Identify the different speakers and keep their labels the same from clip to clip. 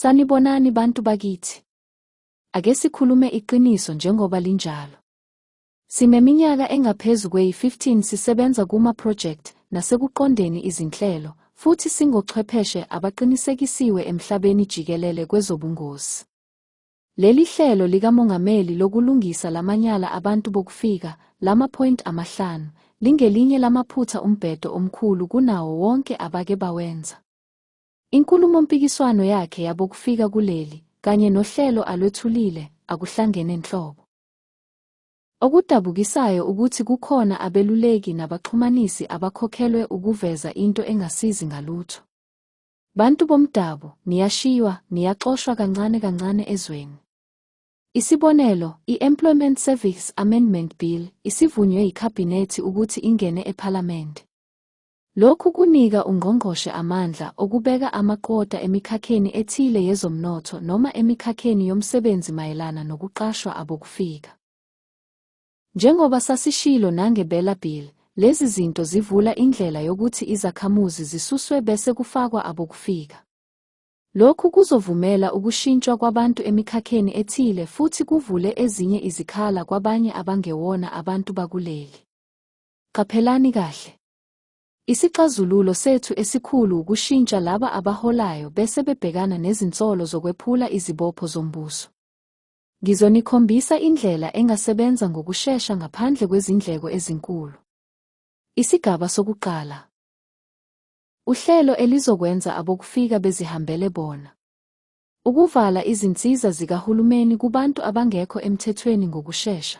Speaker 1: Sanibonani bantu bakithi. Ake sikhulume iqiniso njengoba linjalo. Sineminyaka engaphezu kweyi-15 sisebenza kuma-project nasekuqondeni izinhlelo futhi singochwepheshe abaqinisekisiwe emhlabeni jikelele kwezobungozi. Leli hlelo likamongameli lokulungisa lamanyala abantu bokufika, lama-point amahlanu, lingelinye lamaphutha umbhedo omkhulu kunawo wonke abake bawenza. Inkulumompikiswano yakhe yabokufika kuleli kanye nohlelo alwethulile akuhlangene nhlobo. Okudabukisayo ukuthi kukhona abeluleki nabaxhumanisi abakhokhelwe ukuveza into engasizi ngalutho. Bantu bomdabu, niyashiywa, niyaxoshwa kancane kancane ezweni. Isibonelo, i-Employment Service Amendment Bill isivunywe yiKhabhinethi ukuthi ingene ePhalamende. Lokhu kunika ungqongqoshe amandla okubeka amaqota emikhakheni ethile yezomnotho noma emikhakheni yomsebenzi mayelana nokuqashwa abokufika. Njengoba sasishilo nange Bela Bill, lezi zinto zivula indlela yokuthi izakhamuzi zisuswe bese kufakwa abokufika. Lokhu kuzovumela ukushintshwa kwabantu emikhakheni ethile futhi kuvule ezinye izikhala kwabanye abangewona abantu bakuleli. Qaphelani kahle. Isixazululo sethu esikhulu ukushintsha laba abaholayo bese bebhekana nezinsolo zokwephula izibopho zombuso. Ngizonikhombisa indlela engasebenza ngokushesha ngaphandle kwezindleko ezinkulu. Isigaba sokuqala. Uhlelo elizokwenza abokufika bezihambele bona. Ukuvala izinsiza zikahulumeni kubantu abangekho emthethweni ngokushesha.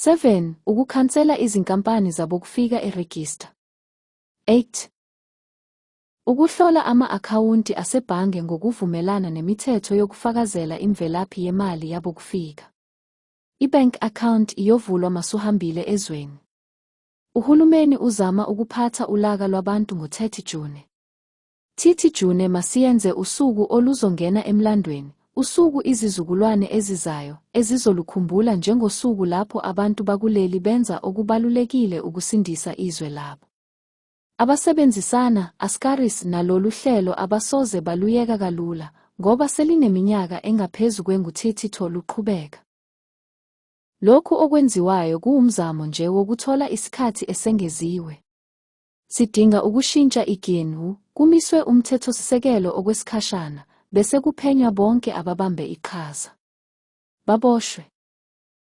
Speaker 1: 7 ukukhansela izinkampani zabokufika eregista 8 ukuhlola ama-akhawunti asebhange ngokuvumelana nemithetho yokufakazela imvelaphi yemali yabokufika ibank account iyovulwa masuhambile ezweni uhulumeni uzama ukuphatha ulaka lwabantu ngo-30 june Thithi June masiyenze usuku oluzongena emlandweni, usuku izizukulwane ezizayo ezizolukhumbula njengosuku lapho abantu bakuleli benza okubalulekile ukusindisa izwe labo. Abasebenzisana, Ascaris, nalolu hlelo abasoze baluyeka kalula ngoba selineminyaka engaphezu kwengu-32 luqhubeka. Lokhu okwenziwayo kuwumzamo nje wokuthola isikhathi esengeziwe. Sidinga ukushintsha iGNU, kumiswe umthethosisekelo okwesikhashana, bese kuphenywa bonke ababambe iqhaza. Baboshwe.